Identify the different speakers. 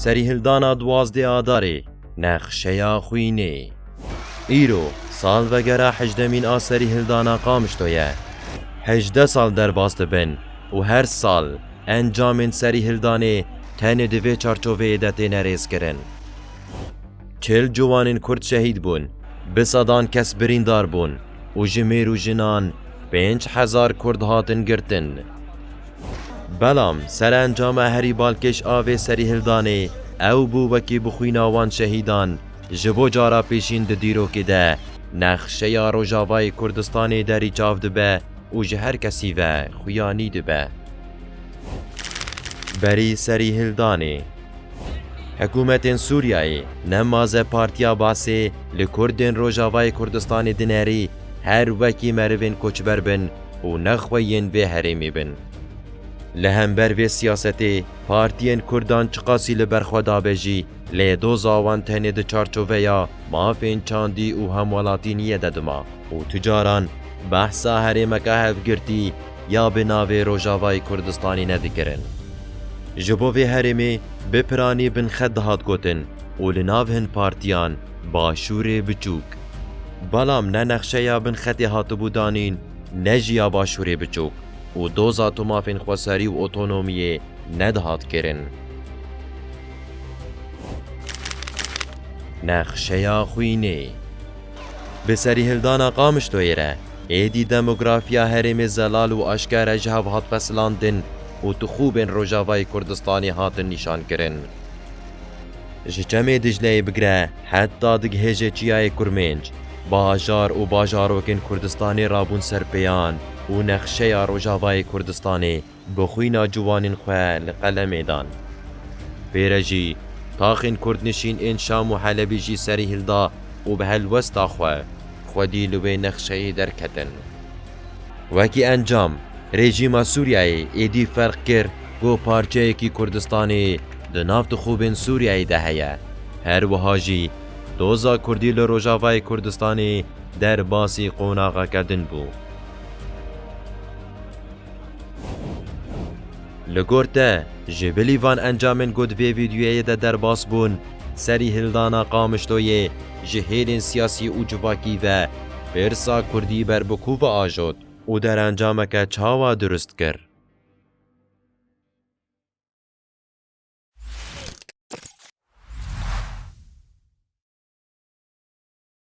Speaker 1: Serîhildana duwazdeh Adarê nexşeya xwînê. Îro salvegera hejdemîn a Serîhildana Qamişlo ye. Hejdeh sal derbas dibin û her sal encamên Serîhildanê tenê di vê çarçoveyê de têne rêzkirin. Çil ciwanên Kurd şehîd bûn, bi sedan kes birîndar bûn û ji mêr û jinan pênc hezar Kurd hatin girtin. Belam serencama herî balkêş a vê serîhildanê ew bû wekî bi xwîna wan şehîdan ji bo cara pêşîn di dîrokê de nexşeya Rojavayê Kurdistanê derî çav dibe û ji her kesî ve xuyanî dibe. Berî serî hildanê hikûmetên Sûriyeyê ne maze Partiya Basê li Kurdên Rojavayê Kurdistanê dinerî her wekî merivên koçber bin û ne xwe yên vê herêmê bin. Li hember vê siyasetê partiyên Kurdan çiqasî li ber xwe dabe jî, Lê doza wan tenê di çarçoveya mafên çandî û hemwelatîniyê de dima û tu caran behsa herêmeke hevgirtî ya bi navê Rojavayê Kurdistanê ne dikirin. Ji bo vê herêmê bi piranî binxet dihat gotin û li nav hin partiyan Başûrê Biçûk. Belam ne nexşeya binxetê hatibû danîn ne jî ya Başûrê Biçûk û doza tu mafên xweserî û otonomiyê ne dihat kirin. Nexşeya xwînê, Bi serîhildana Qamişloyê re êdî demografiya herêmê zelal û aşkere ji hev hat pesilandin û tixûbên Rojavayê Kurdistanê hatin nîşankirin. Ji Çemê Dicleyê bigire heta dighêje Çiyayê Kurmênc, bajar û bajarokên Kurdistanê rabûn ser pêyan û nexşeya Rojavayê Kurdistanê Bi xwîna ciwanên xwe li qelemê dan. Pêre jî taxên kurdnişîn ên Şam û Helebî jî serî hilda û bi helwesta xwe, xwedî li wê nexşeyê derketin. Wekî encam, rejîma Sûriyeyê êdî ferq kir ku parçeyekî Kurdistanê di nav tixûbên Sûriyeyê de heye. Her wiha jî doza kurdî li rojavayê Kurdistanê derbasî qonaxeke din bû. Li gor te, ji bilî van encamên ku di vê vîdyoyê de derbas bûn, serî hildana Qamişloyê ji hêlên siyasî û civakî ve pirsa kurdî ber bi ku ve ajot û derencameke çawa dirust kir.